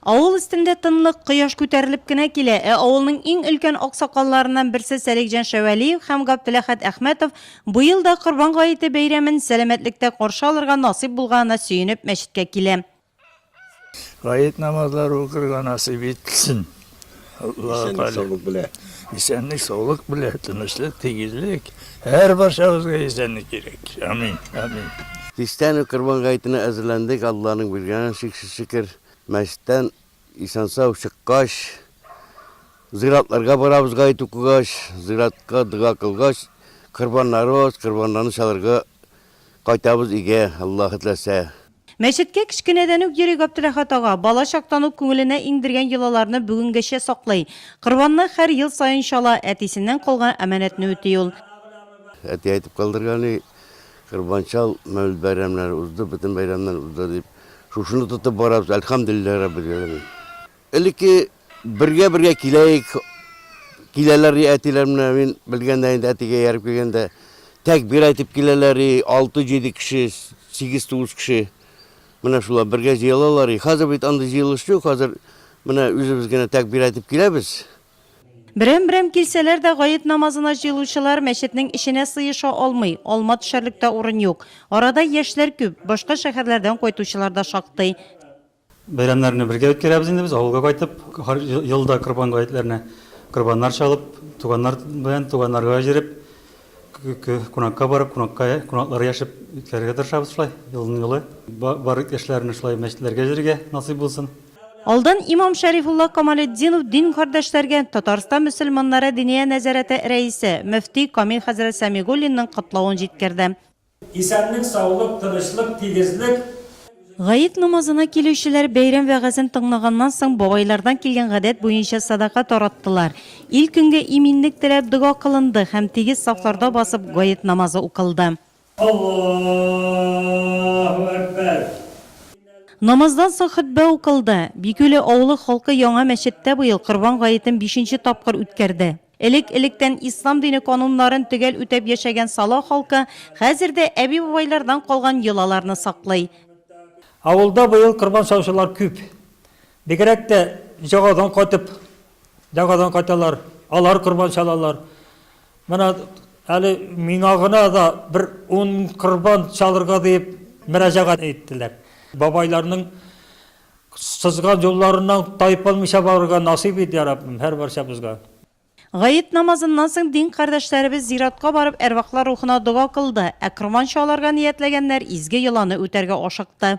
Авыл өстендә тынлык, кояш күтәрелеп кенә килә, ә авылның иң өлкән аксакалларыннан берсе Сәлихҗан Шәвәлиев һәм Габделәхәт Әхмәтов быел да Корбан гаете бәйрәмен сәламәтлектә каршы алырга насыйп булганына сөенеп мәчеткә килә. Гает намазлары укырга насыйп итсен. Аллаһу тәгалә. Исәнлек, саулык белән, тынычлык, тигезлек. Һәр барчабызга исәнлек кирәк. Амин. Амин. Кичтән үк Корбан гаетенә әзерләндек. Алланың биргәнен шиксез шөкер. Мәчеттән исән-сау чыккач, зиратларга барабыз гаит укыгач, зиратка дога кылгач, корбаннарыбыз, корбаннарны чалырга кайтабыз өйгә, Аллаһы теләсә. Мәчеткә кечкенәдән үк йөри Гаптеләхәт ага. Бала чактан ук күңеленә иңдергән йолаларны бүгенгәчә саклый. Корбанны хәр ел саен чала, әтисеннән калган аманәтне үти ул. Әти әйтеп калдырган и, Корбан чал, мәүлид бәйрәмнәре узды, бөтен бәйрәмнәр узды, дип. Шушыны тотып барабыз, әлхәмдүлилләһи раббил галәмин. Элекке бергә-бергә киләек, киләләр и әтиләр менә мин белгәндә инде әтигә ияреп килгәндә тәкбир әйтеп киләләр и 6-7 кеше, 8-9 кеше менә шулар бергә җыелалар и хәзер бит андый җыелыш юк, хәзер менә үзебез генә тәкбир әйтеп киләбез. Берәм-берәм килсәләр дә, гает намазына җыелучылар мәчетнең эченә сыеша алмый, алма төшәрлек тә урын юк. Арада яшьләр күп, башка шәһәрләрдән кайтучылар да шактый. Бәйрәмнәрне бергә үткәрәбез инде без, авылга кайтып, һәр ел да корбан гаетләренә корбаннар чалып, туганнар белән, туганнарга җереп, кунакка барып, кунакка, кунаклар яшеп үткәрергә тырышабыз шулай, елның елы. Бар иптәшләрне шулай мәчетләргә җөрергә насыйп булсын. Алдан имам Шәрифулла Камалетдинов дин кардәшләргә Татарстан мөселманнары Диния нәзарәте рәисе, мөфти Камил хәзрәт Сәмигуллинның котлавын җиткерде. Исәнлек, саулык, тынычлык, тигезлек. Гает намазына килүчеләр бәйрәм вәгазен тыңлаганнан соң бабайлардан килгән гадәт буенча садака тараттылар. Ил-көнгә иминлек теләп дога кылынды һәм тигез сафларда басып гает намазы укылды. Аллаһу әкбәр! Намаздан соң хөтбә укылды. Бикүле авылы халкы яңа мәчеттә быел Корбан гаетен бишенче тапкыр үткәрде. Элек-электән ислам дине кануннарын төгәл үтәп яшәгән Сала халкы хәзер дә әби-бабайлардан калган йолаларны саклый. Авылда быел корбан саучылар күп. Бигрәк тә җәгадан кайтып, дәгадан кайталар, алар корбан чалалар. Менә әле миңа гына да бер ун корбан чалырга диеп мөрәҗәгать иттеләр. Бабайларның Сызган юлларыннан тайпылмыйча барырга насыйп ит, я Раббым, һәр барчабызга. Гает намазыннан соң дин кардәшләребез зиратка барып әрвахлар рухына дога кылды, ә корбан чаларга ниятләгәннәр изге йоланы үтәргә ашыкты.